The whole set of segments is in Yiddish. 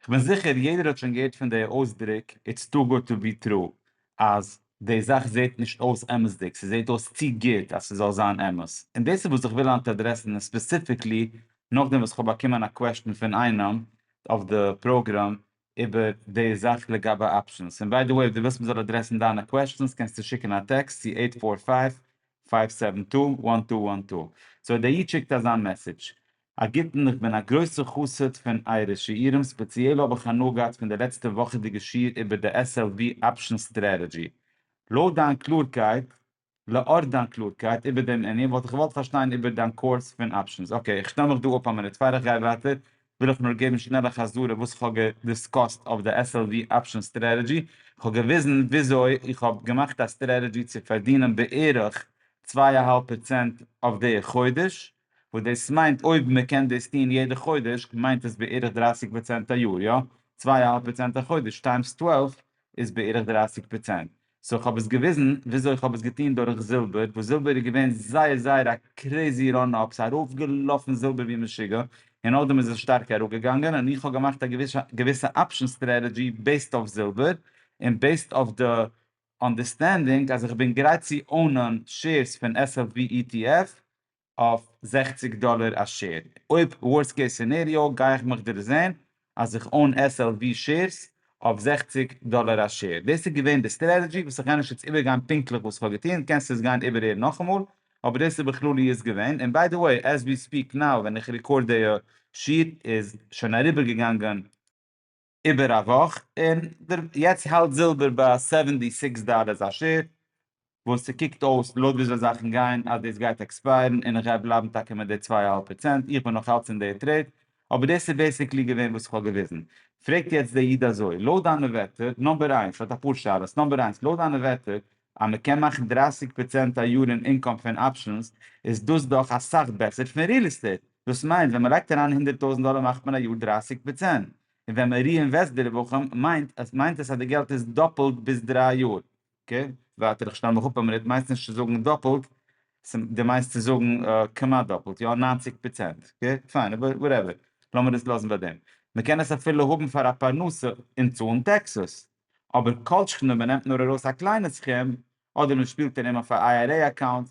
כ'בין זיכער יעדער האט שוין געהערט פון די אויסדריק איטס טו גוד טו בי טרו אז די זאך זעהט נישט אויס אמת'דיג, ס'זעהט אויס צו גוט אז ס'זאל זיין אמת, און דאס איז וואס איך וויל היינט אדרעסן און ספעסיפיקלי נאכדעם וואס כ'האב באקומען א קוועשטן פון איינעם אויף די פראגראם איבער די זאך לגבי אפשענס, און ביי די וועי אויב דו ווילסט מ'זאל אדרעסן דיינע קוועשטענס קענסטו שיקן א טעקסט צו עיט פאר פייוו פייוו סעווען טו וואן טו וואן טו, סאו דער איד שיקט אזא מעסעדזש, א גוטן, איך בין א גרויסע חסיד פון אייערע שיעורים, ספעציעל האב איך הנאה געהאט פון די לעצטע וואכעדיגע שיעור איבער די SLV אפשען סטרעטעדזשי. לויט דיין קלארקייט, לאור דיין קלארקייט איבער דעם ענין וואלט איך געוואלט פארשטיין איבער דיין קורס פון אפשענס. אקעי, איך שטעל מיך דא אפ א מינוט. פאר איך גיי ווייטער וויל איך נאר געבן שנעל א חזרה וואס איך האב געדיסקאסט אויף די SLV אפשען סטרעטעדזשי. איך האב געוויזן וויאזוי איך האב געמאכט א סטרעטעדזשי צו פארדינען בערך צוויי אהאלב פראצענט אויף די חודש, וואס דאס מיינט אויב מען קען דאס טון יעדע חודש מיינט עס בערך דרייסיג פראצענט א יאר יא? צוויי אהאלב פראצענט א חודש טיימס טוועלף איז בערך דרייסיג פראצענט סאו איך האב עס געוויזן וויאזוי איך האב עס געטון דורך זילבער וואס זילבער איז געווען זייער זייער א קרעזי ראן אפ סאיז ארויף געלאפן זילבער ווי משוגע און נאכדעם איז עס שטארק אראפ געגאנגען און איך האב געמאכט א געוויסע אפשען סטרעטעדזשי בעיסד אויף זילבער און בעיסד אויף די אנדערסטענדינג אז איך בין גרייט צו אונען שעירס פון SLVETF אויף זעכציג דאלער א שעיר, אויב ווארסט קעיס סינעריאו גיי איך מיך דערזעהן אז איך און SLV שעירס אויף זעכציג דאלער א שעיר, דאס איז געווען די סטרעטעדזשי וואס איך עניש יעצט איבערגיין פונקטליך וואס איך האב געטוהן קענסט עס גיין איבערהערן נאכאמאל אבער דאס איז בכלליות געווען און ביי די וועי עז ווי ספיעק נאו ווען איך ריקארד דעיע שעיר איז שוין אריבערגעגאנגען איבער א וואך, און יעצט האלט זילבער ביי סעווענטי סיקס דאלערס א שער, וואס ס'קוקט אויס לויט וויאזוי זאכן גייען אז דאס גייט עקספייערן און איך גיי בלייבן טאקע מיט די צוויי אהאלב פראצענט, איך בין נאכאלץ אין די טרעיד, אבער דאס איז בעסיקלי געווען וואס איך האב געוויזן. פרעגט יעצט דער איד אזוי, לויט דיינע ווערטער, נומבער איינס, ער האט אפאר שאלות, נומבער איינס, לויט דיינע ווערטער, אז מען קען מאכן דרייסיג פראצענט א יאר אין אינקאם פון אפשענס איז דאס דאך אסאך בעסער פון ריעל עסטעיט, דאס מיינט ווען מען לייגט אריין הונדערט טויזנט דאלער מאכט מען א יאר דרייסיג פראצענט, און ווען מען ריאינוועסט די רווחים מיינט עס מיינט עס אז די געלט איז דאפלט ביז דריי יאר. אקעי, ווייטער, איך שטעל מיך אפ א מינוט, מיינסט נישט צו זאגן דאפלט, דו מיינסט צו זאגן כמעט דאפלט, יא ניינציג פראצענט, אקעי, פיין, אבער וואטעווער, לאמיר עס לאזן ביי דעם, מען קען עס אפילו האבן פאר א פרנסה און צאלן טעקסעס. אבער כל שכן אויב מען נעמט נאר ארויס א קליינע סכום, אדער מען שפילט אין אים אויף א IRA אקאונט,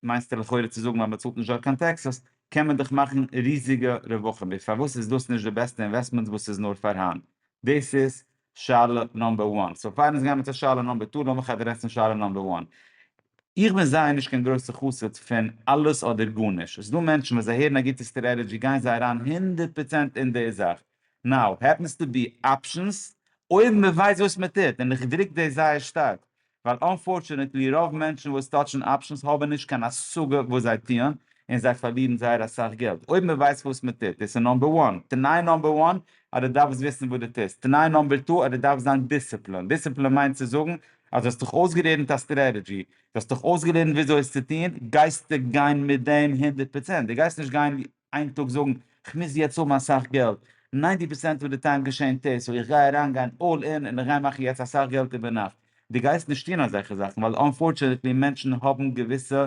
מיינסטו לכאורה צו זאגן אז מען צאלט נישט דארט קיין טעקסעס, קען מען דאך מאכן ריזיגע רווחים, איז פארוואס איז דאס נישט די בעסטע אינוועסטמענט וואס איז נאר פארהאן? דאס איז שאלה נאמבער וואן. סאו פאר אונז גיימער צו שאלה נאמבער טו, לאמיך אדרעסן שאלה נאמבער וואן. איך בין זייער נישט קיין גרויסע חסיד פון אלעס אדער גארנישט. עס איז דא מענטשן ווען זיי הערן א גוטע סטרעטעדזשי גייען זיי אריין הונדערט פראצענט אין די זאך. נאו העפענס טו בי אפשענס אויב מען ווייסט וואס מען טוט, און איך דרוק דאס זייער שטארק, ווייל אנפארטשענעטלי רוב מענטשן וואס טאטשן אפשענס האבן נישט קיין השגה וואס זיי טוען, און זיי פארלירן זייער אסאך געלט, אויב מען ווייסט וואס מען טוט, דאס איז נאמבער וואן, תנאי נאמבער וואן אז דו דארפסט וויסן וואס דו טוסט, תנאי נאמבער טו אז דו דארפסט זיין דיסציפלינד, דיסציפלינד מיינט צו זאגן אז דו האסט דיך אויסגעלערנט א סטרעטעדזשי, דו האסט דיך אויסגעלערנט וויאזוי עס צו טון, גייסטו גיין מיט דעם הונדערט פראצענט, דו גייסט נישט גיין איין טאג זאגן כ'מוז יעצט האבן אסאך געלט, ניינטי פערסענט אוו די טיים געשענט עס, סאו איך גיי אריין גיין אלל אין און איך גיי מאכן יעצט אסאך געלט איבער נאכט, די גייסט נישט טון אזעלכע זאכן ווייל אנפארטשענעטלי מענטשן האבן געוויסע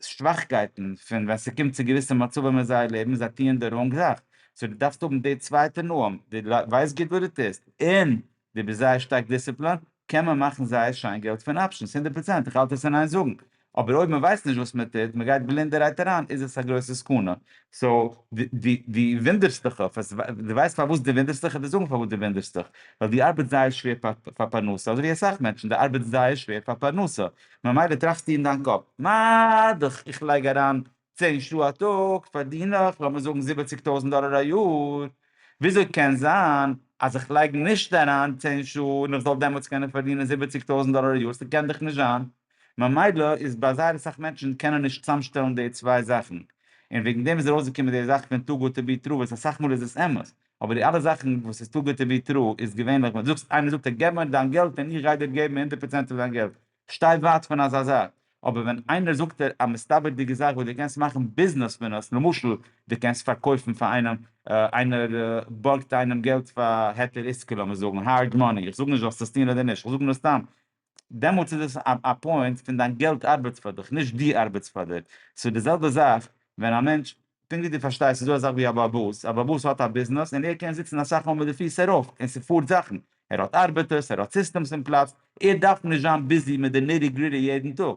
שוואכקייטן פון ווען ס'קומט צו געוויסע מצבים אין זייער לעבן זיי טוען די ראנג זאך, סאו די דארפסט האבן די צווייטע נועם, די ווייסט גוט וואס די טוסט, און די ביסט זייער שטארק דיסציפלינט, קען מען מאכן זייער שיין געלט פון אפשענס, הונדערט פראצענט, איך האלט עס אין איין זאגן, אבער אויב מען ווייסט נישט וואס מען טוט, מען גייט בלינדערהייט אריין, איז עס א גרויסע סכנה, סאו, די די וואונדערסט דיך אויף עס, די ווייסט פארוואס די וואונדערסט דיך, איך וועל זאגן פארוואס די וואונדערסט דיך, ווייל די ארבעטסט זייער שווער פאר פרנסה, אזוי ווי אסאך מענטשן, די ארבעטסט זייער שווער פאר פרנסה, ממילא טראכסטו אין דיין קאפ, מה דאך איך לייג אריין צען שעה א טאג פארדין איך לאמיר זאגן זיבעציג טויזנט דאלער א יאר, וויאזוי קען זיין אז איך לייג נישט אריין צען שעה און איך זאל דעמאלטס קענען פארדינען זיבעציג טויזנט דאלער א יאר? ס'קען דאך נישט זיין. ממילא איז ביי זייער אסאך מענטשן קענען נישט צאמשטעלן די צוויי זאכן, און וועגן דעם איז ארויסגעקומען די זאך פון טו גוד טו בי טרו, וואס אסאך מאל איז עס אמת, אבער די אלע זאכן וואס איז טו גוד טו בי טרו איז געווענליך ווען דו זאגסט, איינער זאגט דיר געב מיר דיין געלט און איך גיי דיר געבן הונדערט פראצענט פון דיין געלט, שטיי ווייט פון אזא זאך, אבער ווען איינער זאגט דיר א מסתבר'דיגע זאך וואס דו קענסט מאכן ביזנעס פון עס, למשל דו קענסט פארקויפן פאר איינעם, איינער בארגט איינעם געלט פאר היתר עיסקא לאמיר זאגן, הארד מאני, איך זאג נישט זאלסט עס טון אדער נישט, איך זאג נאר סתם, דעמאלטס איז דאס א פוינט פון דיין געלט ארבעט פאר דיך, נישט דו ארבעטסט פאר דיר, ס'איז די זעלבע זאך ווען א מענטש פונקט ווי דו פארשטייסט ס'איז דא אזאך ווי א באבוס, א באבוס האט א ביזנעס און ער קען זיצן אסאך מאל מיט די פיס ארויף און ס'פארט זאכן, ער האט ארבעטערס, ער האט סיסטעמס אין פלאץ, ער דארף נישט זיין ביזי מיט די ניטי גריטי יעדן טאג.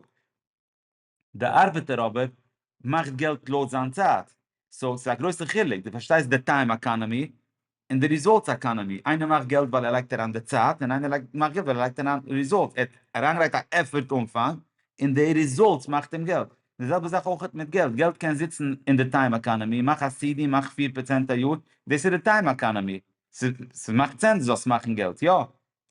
די ארבעטער אבער מאכט געלט לויט זיין צייט, סאו ס'איז א גרויסע חילוק, דו פארשטייסט די טיים עקאנעמי? און די ריזאלטס עקאנעמי, איינער מאכט געלט ווייל ער לייגט אריין די צייט, און איינער מאכט געלט ווייל ער לייגט אריין ריזאלטס, ער האט אריינגעלייגט א עפערט אנפאנג, און די ריזאלטס מאכט אים געלט. די זעלבע זאך אויך מיט געלט, געלט קען זיצן אין די טיים עקאנעמי, מאך א סי די, מאך פֿיר פראצענט א יאר, דאס איז די טיים עקאנעמי, ס'מאכט סענס דו זאלסט מאכן געלט, יא,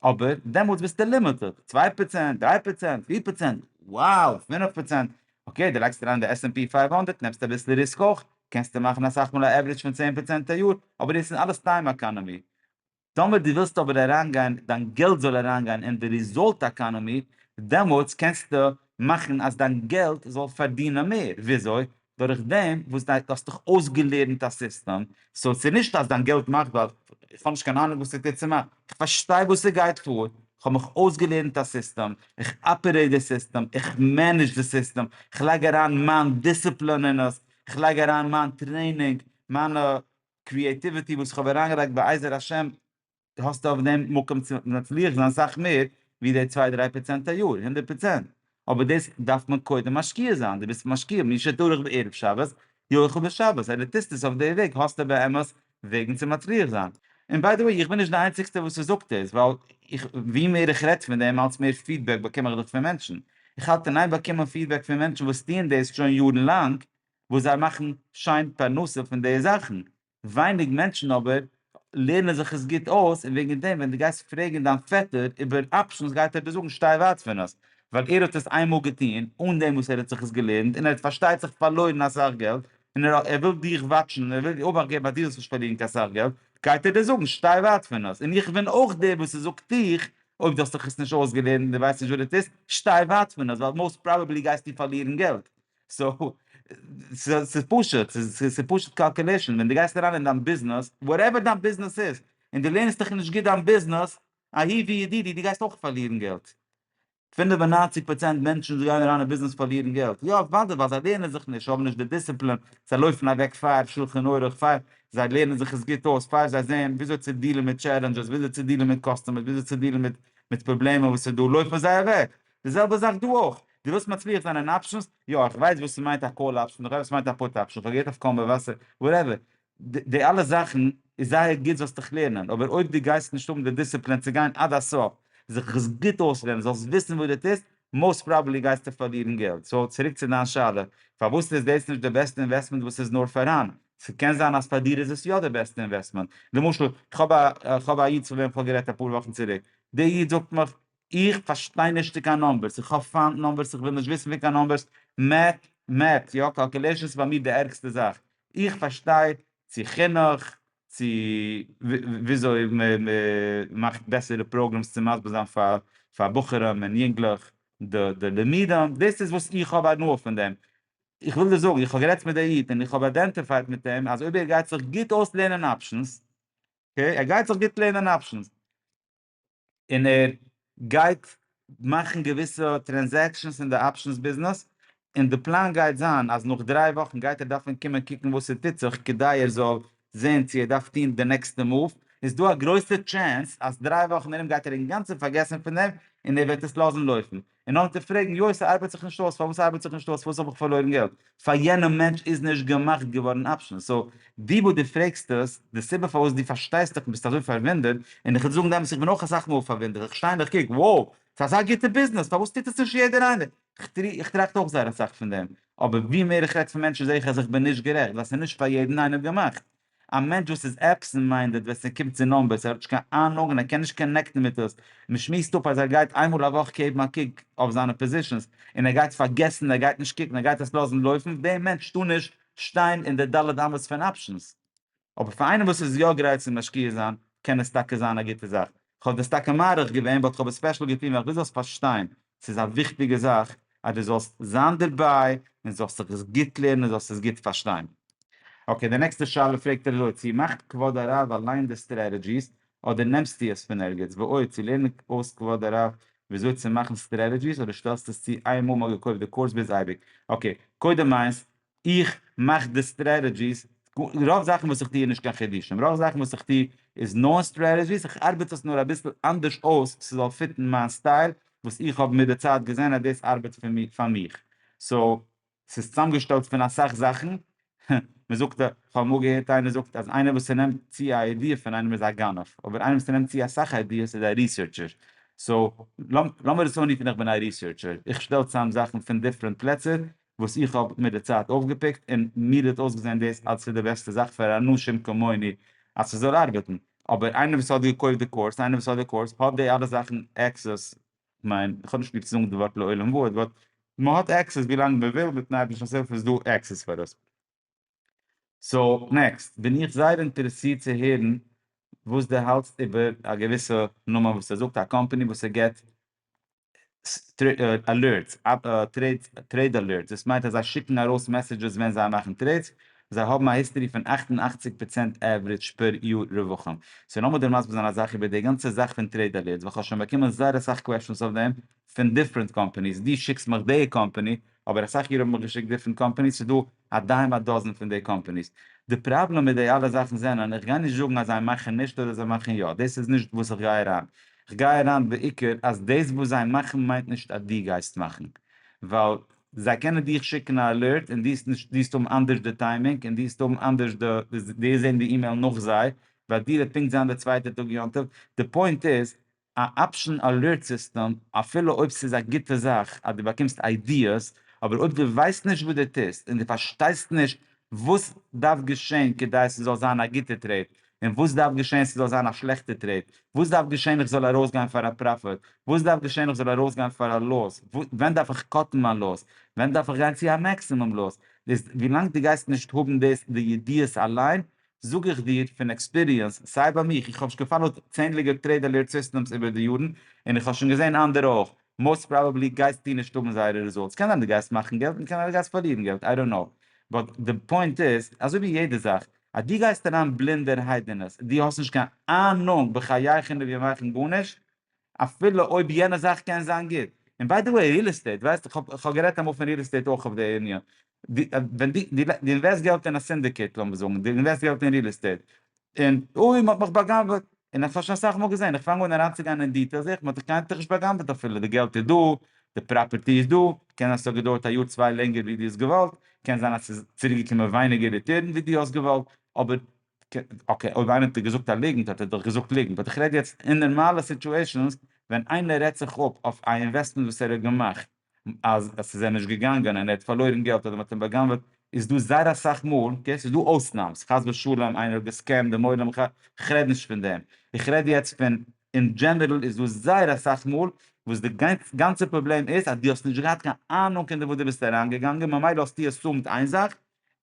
אבער דעמאלטס ביסטו לימיטעד, צוויי פראצענט, דריי פראצענט, פיר פראצענט, wow, פינף פראצענט, אקעי דו לייגסט אריין די עס ענד פי פֿינף הונדערט נעמסטו אביסל ריסק אויך, קענסטו מאכן אסאך מאל א עווערעדזש פון צען פראצענט א יאר, אבער דאס איז אלעס טיים עקאנאמי. טאמער דו ווילסט אבער אריינגיין, דיין געלט זאל אריינגיין אין די ריזאלט עקאנאמי, דעמאלטס קענסטו מאכן אז דיין געלט זאל פארדינען מער, וויאזוי? דורך דעם וואס דיין דו האסט דאך אויסגעלערנט א סיסטעם, סאו ס'איז נישט אז דיין געלט מאכט ווייל איך האב נישט קיין אהנונג וואס ס'טוט צו מיין, איך פארשטיי וואס ס'גייט פאר, איך האב מיך אויסגעלערנט א סיסטעם, איך אפערעיט די סיסטעם, איך מענעדזש די סיסטעם, איך לייג אריין מיין דיסציפלין אין עס, איך לייג אריין מיין טרעינינג, מיינע קריעטיוויטי וואס איך האב אריינגעלייגט בעזר השם, האסטו אויף דעם מקום צו מצליח זיין אסאך מער ווי די צוויי דריי פראצענט א יאר, הונדערט פראצענט, אבער דאס דארף מען קודם משקיע זיין, דו ביסט משקיע, מי שטרח בערב שבת יאכל בשבת, אז דו טוסט עס אויף די וועג האסטו באמת וועגן צו מצליח זיין. און ביי די וועי איך בין נישט די איינציגסטע וואס ס'זאגט דאס, ווייל איך ווי מער איך רעד פון דעם אלץ מער פידבעק באקום איך דאך פון מענטשן, איך האלט אין איין באקומען פידבעק פון מענטשן וואס טוען דאס שוין יארן לאנג, וואס זיי מאכן שיין פרנסה פון די זאכן, ווייניג מענטשן אבער לערנען זיך עס גוט אויס און וועגן דעם ווען דו גייסט פרעגן דיין פעטער איבער אפשענס גייט ער דיר זאגן שטיי ווייט פון עס ווייל ער האט עס איינמאל געטון אן דעם וואס ער האט זיך עס געלערנט און ער האט פארשטייט זיך פארלוירן אסאך געלט און ער וויל דיך וואטשן און ער וויל אבאכט געבן אז דו זאלסט נישט פארלירן קיין סאך געלט גייט ער דיר זאגן שטיי ווייט פון עס און איך בין אויך דער וואס עס זאגט דיך אויב דו האסט זיך עס נישט אויסגעלערנט און דו ווייסט נישט וואס דו טוסט שטיי ווייט פון עס ווייל מאוסט פראבעבלי גייסטו פארלירן געלט סאו, ס'איז פשוט, ס'איז פשוט קאלקעלעישן, ווען דו גייסט אריין אין דיין ביזנעס, וואטעווער דיין ביזנעס איז, און דו לערנסט דיך נישט גוט דיין ביזנעס, אהי' ווי ידידי, דו גייסט אויך פארלירן געלט. פינף און ניינציג פראצענט מענטשן וואס גייען אריין אין ביזנעס פארלירן געלט. יא, אוודאי, ווייל זיי לערנען זיך נישט, זיי האבן נישט די דיסציפלין, זיי לויפן אוועק פאר שולחן ערוך, פאר זיי לערנען זיך עס גוט אויס, פאר זיי זעען וויאזוי צו דיעלן מיט טשעלענדזשעס, וויאזוי צו דיעלן מיט קאסטומערס, וויאזוי צו דיעלן מיט מיט פראבלעמען וואס איז דא, לויפן זיי אוועק. די זעלבע זאך דא אויך, דו ווילסט מצליח זיין אין אפשענס, יא איך ווייס וואס ס'מיינט א קאל אפשען, איך ווייס וואס ס'מיינט א פוט אפשען, איך האב געהערט אויף קול מבשר, וואטעווער, די אלע זאכן איז זייער גוט זאלסט דיך לערנען, אבער אויב דו גייסט נישט האבן די דיסציפלין צו גיין עד הסוף, זיך עס גוט אויסלערנען, זאלסט וויסן וואס דו טוסט, מאוסט פראבעבלי גייסטו פארלירן געלט. סאו צוריק צו דיין שאלה, פארוואס איז דאס נישט די בעסטע אינוועסטמענט וואס איז נאר פארהאן? ס'קען זיין אז פאר דיר איז עס יא די בעסטע אינוועסטמענט, למשל איך האב א איך האב א איד פון וועם איך האב גערעדט אפאר וואכן צוריק, דער איד זאגט מיך איך פארשטיי נישט צו קיין נאמבערס, איך האב פיינט נאמבערס, איך וויל נישט וויסן פון קיין נאמבערס, מעט, מעט, יא, קאלקולעישאנס איז ביי מיר די ערגסטע זאך, איך פארשטיי צו חינוך, צו וויאזוי מ'מאכט בעסערע פראגרעמס צו מסביר זיין פאר פאר בחורים און יונגלעך די לימודים, דאס איז וואס איך האב הנאה פון דעם, איך וויל דיר זאגן, איך האב גערעדט מיט די איד און איך האב איידענטיפייד מיט אים אז אויב ער גייט זיך גוט אויסלערנען אפשענס, אקעי, ער גייט זיך גוט לערנען אפשענס, און ער גייט מאכן געוויסע טרענזעקשאנס אין די אפשענס ביזנעס, און די פלאן גייט זיין אז נאך דריי וואכן גייט ער דארפן קומען קוקן וואס ס'טוט זיך כדי ער זאל זען צו ער דארף טון די נעקסטע מאוו, איז דא א גרויסע טשענס אז דריי וואכן ארום גייט ער אינגאנצן פארגעסן פון דעם און ער וועט עס לאזן לויפן. און אנטער פרעגן יוי ס'ארבייט זיך נישט אויס, פארוואס ארבייט זיך נישט אויס, פארוואס האב איך פארלוירן געלט, פאר יענעם מענטש איז נישט געמאכט געווארן אפשענס, סאו דו וואס דו פרעגסט עס, די סיבה פארוואס דו פארשטייסט דיך און ביסט אזוי פארוואונדערט, און איך וועל דיר זאגן די אמת איך בין אויך אסאך מאל פארוואונדערט, איך שטיי און איך קוק wow ס'איז אזא גוטע ביזנעס פארוואס טוט עס נישט יעדער איינער, איך טראכט אויך זייער אסאך פון דעם, אבער ווי מער איך רעד פון מענטשן זע איך אז איך בין נישט גערעכט ווייל ס'איז נישט פאר יעדן איינעם געמאכט, א מענטש וואס איז עבסענט מיינדעד ווען ס'קומט צו נאמבערס, ער האט נישט קיין אהנונג און ער קען נישט קאנעקטן מיט דאס, מען שמועסט אפ אז ער גייט איין מאל א וואך געבן א קוק אויף זיינע פאזישאנס און ער גייט פארגעסן און ער גייט נישט קוקן ער גייט עס לאזן לויפן, דער מענטש טאר נישט שטיין אין די ד' אמות פון אפשענס. אבער פאר איינעם וואס איז יא גרייט צו משקיע זיין קען עס טאקע זיין א גוטע זאך. כ'האב דאס טאקע מעריך געווען באט כ'האב עס ספעשל געטון ווייל כ'וויל זאלסט פארשטיין ס'איז א וויכטיגע זאך אז דו זאלסט זיין דערביי און זאלסט זיך עס גוט לערנען און זאלסט עס גוט פארשטיין. אקעי, די נעקסטע שאלה פרעגט ער אזוי, צו מאכט כבוד הרב אליין די סטרעטעדזשיס אדער נעמסטו עס פון ערגעץ? ועוד, צו לערנען אויס כבוד הרב וויאזוי צו מאכן סטרעטעדזשיס אדער שטעלסטו עס צו איינמאל מ'האט געקויפט די קורס ביז אייביג? אקעי, קודם איינס, איך מאך די סטרעטעדזשיס, רוב זאכן וואס איך טוה איז נישט קיין חידושים, רוב זאכן וואס איך טוה איז נאר סטרעטעדזשיס, איך ארבעט עס נאר אביסל אנדערש אויס ס'זאל פיטן מיין סטייל, וואס איך האב מיט די צייט געזען אז דאס ארבעט פאר מיר פאר מיך, סאו ס'איז צוזאמגעשטעלט פון אסאך זאכן, מען זאגט א, כ'האב אמאל געהערט איינער זאגט אז איינער וואס ס'נעמט צו א איידיע פון איינעם איז א גנב, אבער איינער וואס ס'נעמט צו אסאך איידיעס איז א ריסערטשער, סאו לאמיר עס אנרופן איך בין א ריסערטשער, איך שטעל צוזאם זאכן פון דיפרענט פלעצער וואס איך האב מיט די צייט אויפגעפיקט, און מיר האט אויסגעזען דאס אז ס'איז די בעסטע זאך פאר אנשים כמוני אז ס'זאל ארבעטן, אבער איינער וואס האט געקויפט די קורס, איינער וואס האט די קורס, האט די אלע זאכן עקסעס, כ'מיין, כ'האב נישט ליב צו זאגן די ווארט לעולם וואויד, באט מ'האט עקסעס ווילאנג מ'וויל, מיטן אייבערשטנ'ס הילף איז דא עקסעס פאר דאס. סאו, נעקסט, בין איך זייער אינטערעסירט צו הערן וואס דו האלטסט איבער א געוויסע נאמען וואס ער זאגט, א קאמפאני וואס ער גיבט אלערטס, טרעיד אלערטס, דאס מיינט אז זיי שיקן ארויס מעסעדזשעס ווען זיי מאכן טרעידס, זיי האבן א היסטערי פון אַכט און אַכציק פראצענט עוורידזש פער יאר רווחים, סאו לאמיר דיר מסביר זיין א זאך איבער די גאנצע זאך פון טרעיד אלערטס, ווייל כ'האב שוין באקומען זייער אסאך קוועשאנס אויף דעם פון דיפרענט קאמפאניס, דו שיקסט מיך די קאמפאני, אבער אסאך יאר האבן מיך געשיקט דיפרענט קאמפאניס, ס'דא א דיים א דאזען פון די קאמפעניס. די פראבלעם מיט די אלע זאכן זענען, איך גיי נישט זאגן אז זיי מאכן נישט אדער זיי מאכן יא, דאס איז נישט וואס איך גיי אריין, איך גיי אריין בעיקר אז דאס וואס זיי מאכן מיינט נישט אז דו גייסט מאכן, ווייל זיי קענען דיך שיקן א אלערט און דו דיסט האבן אנדערש די טיימינג און דו דיסט האבן אנדערש די, דו זען די אימעיל נאך זיי, ביי דיר וועט פונקט זיין די צווייטע טאג יום טוב, די פוינט איז א אפשען אלערט סיסטעם, אפילו אויב ס'איז א גוטע זאך אז דו באקומסט איידיעס, אבער אויב דו ווייסט נישט וואס דו טוסט און דו פארשטייסט נישט וואס דארף געשען כדי ס'זאל זיין א גוטע טרעיד און וואס דארף געשען ס'זאל זיין א שלעכטע טרעיד, וואס דארף געשען איך זאל ארויסגיין פאר א פראפיט, וואס דארף געשען איך זאל ארויסגיין פאר א לאס, ווען דארף איך קאטן מיין לאס, ווען דארף איך גיין צו א מעקסימום לאס, איז ווילאנג דו גייסט נישט האבן דאס די ידיעות אליין זאג איך דיר פון עקספיריענס, סיי ביי מיך, איך האב שוין געפאלאוט צענדליגער טרעיד אלערט סיסטעמס איבער די יארן, און איך האב שוין געזען אנדערע אויך, מאוסט פראבעבלי גייסטו נישט האבן זייערע רעזולטס, קען זיין דו גייסט מאכן געלט און קען זיין דו גייסט פארלירן געלט, איי דאנט קנאו, באט די פוינט איז, אזוי ווי יעדע זאך, אז דו גייסט אריין בלינדערהייט אין עס, דו האסט נישט קיין אהנונג בחייך און אין ימיך אין גארנישט, אפילו אויב יענע זאך קען זיין גוט. און ביי די וועי ריעל עסטעיט, ווייסט איך האב גערעדט אמאל פון ריעל עסטעיט אויך אויף די ענין, ווען די די אינוועסט געלט אין א סינדיקעיט לאמיר זאגן, די אינוועסט געלט אין ריעל עסטעיט, און אוי מען האט מיך בא'גנב'עט, און איך האב שוין אסאך מאל געזען, איך פאנג אן אריינצוגיין אין דיטעל זעה איך מען האט דיך קיינמאל נישט בא'גנב'עט אפילו, די געלט איז דא, די פראפערטי איז דא, קען זיין ס'האט געדויערט א יאר צוויי לענגער ווי דו האסט געוואלט, קען זיין אז ס'איז צוריקגעקומען ווייניגער ריטערן ווי דו האסט געוואלט, אבער אקעי אויב איינער האט דיר געזאגט א ליגנט האט ער דאך געזאגט ליגנט באט איך רעד יעצט אין נארמאלע סיטועשענס ווען איינער רעדט זיך אפ אויף א אינוועסטמענט וואס ער האט געמאכט אז עס איז אים נישט געגאנגען און ער האט פארלוירן געלט אדער מען האט אים בא'גנב'עט איז דא זייער אסאך מאל אקעי ס'איז דא אויסנאמס חס ושלום איינער האט געסקעמט דעם עולם ח ו כ'רעד נישט פון דעם איך רעד יעצט פון אין דזשענערל איז דא זייער אסאך מאל וואס די גאנצע פראבלעם איז אז דו האסט נישט געהאט קיין אהנונג אין די וואס דו ביסט אריינגעגאנגען ממילא האסטו עס סומט איין זאך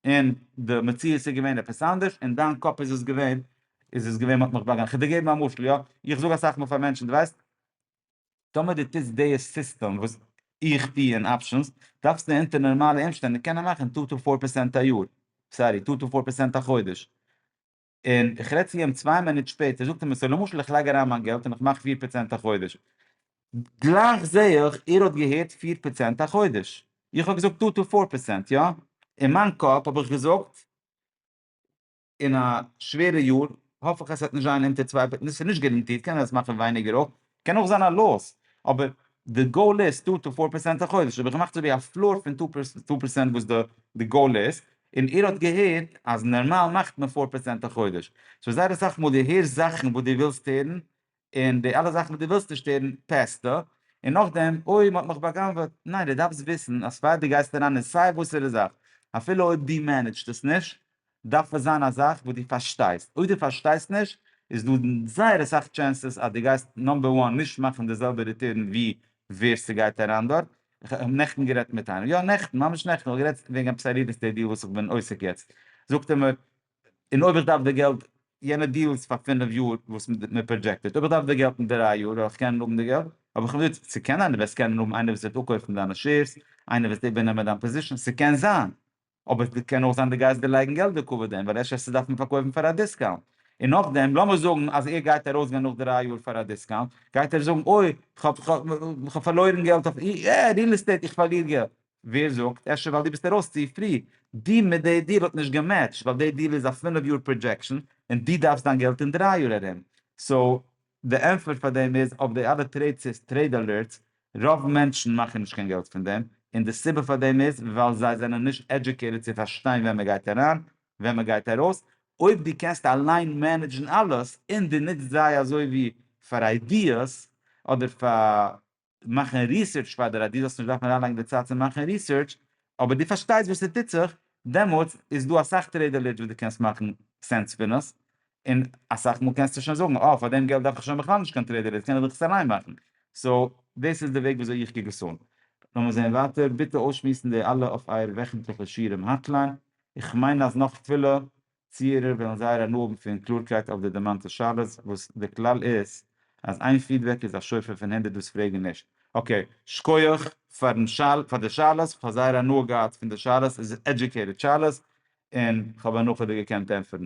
און די מציאות איז געווען עפעס אנדערש, אין דיין קאפ איז עס געווען, איז עס געווען מ'האט מיך באגאנען, כדי געבן א משל יא, איך זאג אסאך מאל פאר מענטשן, דו ווייסט, טאמער דו טוסט די סיסטעם וואס איך טו אין אפשענס, דארפסטו אונטער נארמאלע אומשטענדן קענען מאכן טו טו פאר פערסענט א יאר, סארי, טו טו פאר פערסענט א חודש, און איך רעד צו איהם צוויי מינוט שפעט, איך זאג צו אים סא למשל איך לייג אריין מיין געלט און איך מאך פיר פראצענט א חודש, גלייך זעה איך ער האט געהערט פיר פראצענט א חודש, איך האב געזאגט טא טא פאר פראצענט יא, אין מיין קאפ האב איך געזאגט אין א שווערע יאר האף איך אז ס'וועט נישט זיין אונטער צוויי, ס'איז נישט גערענטירט קען זיין עס מאכן ווייניגער אויך, קען אויך זיין א לאס, אבער די גאול איז טו טו פאר פערסענט א חודש, האב איך געמאכט אזויווי א פלאר פון טו פערסענט וואס די גאול איז, און איר האט געהערט אז נארמאל מאכט מען פאר פערסענט א חודש, סאו זייער אסאך מאל די הערסט זאכן וואס די ווילסט הערן, און די אלע זאכן וואס די ווילסט נישט הערן פעסטו, און נאכדעם אוי מ'האט מיך בא'גנב'עט, ניין די דארפסט וויסן אז פאר די גייסט אריין אין סיי וואסערע זאך, אפילו אויב די מענעדזשט עס נישט, דארף עס זיין א זאך וואס דו פארשטייסט, אויב דו פארשטייסט נישט איז דא זייער אסאך טשענסעס אז דו גייסט נאמבער וואן נישט מאכן די זעלבע ריטורן ווי ווער ס'גייט אריין דארט, כ'האב נעכטן גערעדט מיט איינעם, יא נעכטן, ממש נעכטן, כ'האב גערעדט וועגן עפעס א ריעל עסטעיט דיעל וואס כ'בין עוסק יעצט, זאגט ער מיר, און אויב איך דארף די געלט, יענע דיעל איז פאר פינף יאר וואס מען פראדזשעקטעד, אויב איך דארף די געלט אין דריי יאר, וועל איך קענען האבן די געלט? האב איך אים געזאגט, ס'קען זיין דו וועסט קענען האבן איינער וואס וועט אפקויפן דיינע שעירס, איינער וועט איבערנעמען דיין פאזישאן, ס'קען זיין, אבער ס'קען אויך זיין די גייסט דערלייגן געלט דוקא וואס דען, ווייל אפשר עסטו דארפן פארקויפן פאר א דיסקאונט, און נאכדעם לאמיר זאגן אז ער גייט ארויסגיין נאך דריי יאר פאר א דיסקאונט, גייט ער זאגן אוי כ'האב פארלוירן געלט אויף ריעל עסטעיט איך פארליר געלט, ווער זאגט, אפשר ווייל דו ביסט ארויס צו פרי, די מיט די דיעל האט נישט געמעטשט, ווייל די דיעל איז א פינף יאר פראדזשעקשאן און דו דארפסט דיין געלט אין דריי יאר ארום, סאו די ענטפער פאר דעם איז, אויף די אלע טרעיד סעיפס, טרעיד אלערטס, רוב מענטשן מאכן נישט קיין געלט פון דעם, און די סיבה פאר דעם איז ווייל זיי זענען נישט עדיוקעיטעד צו פארשטיין ווען מען גייט אריין, ווען מען גייט ארויס, אויב דו קענסט אליין מענעדזשן אלעס, און דו נוצט זיי אזוי ווי פאר איידיעס, אדער פאר מאכן ריסערטש פאר דיר אז דו זאלסט נישט דארפן אריינלייגן די צייט צו מאכן ריסערטש, אבער דו פארשטייסט וואס עס טוט זיך, דעמאלטס איז דא אסאך טרעדעלעדזש וואס דו קענסט מאכן סענס פון עס, און אסאך מאל קענסטו שוין זאגן אה פאר דעם געלט דארף איך שוין בכלל נישט קיין טרעדעלעדזש קען איך דאך עס אליין מאכן, סאו דאס איז די וועג וויאזוי איך קוק עס אן. לאמיר זען ווייטער, ביטע אויסשמועסן די אלע אויף אייער וועכנטליכע שירעם האטליין, איך מיין אז נאך פילע ציערער וועלן זייער הנאה האבן פון קלארקייט אויף די דערמאנטע שאלות, וואס די כלל איז אז איין פידבעק איז א שופר פון הונדערט וואס פרעגן נישט. אקעי, שקויעך פארן שאל פאר די שאלות, כ'האב זייער הנאה געהאט פון די שאלות, עס איז עדיוקעיטעד שאלות, און כ'האב הנאה'דיג געקענט ענטפערן.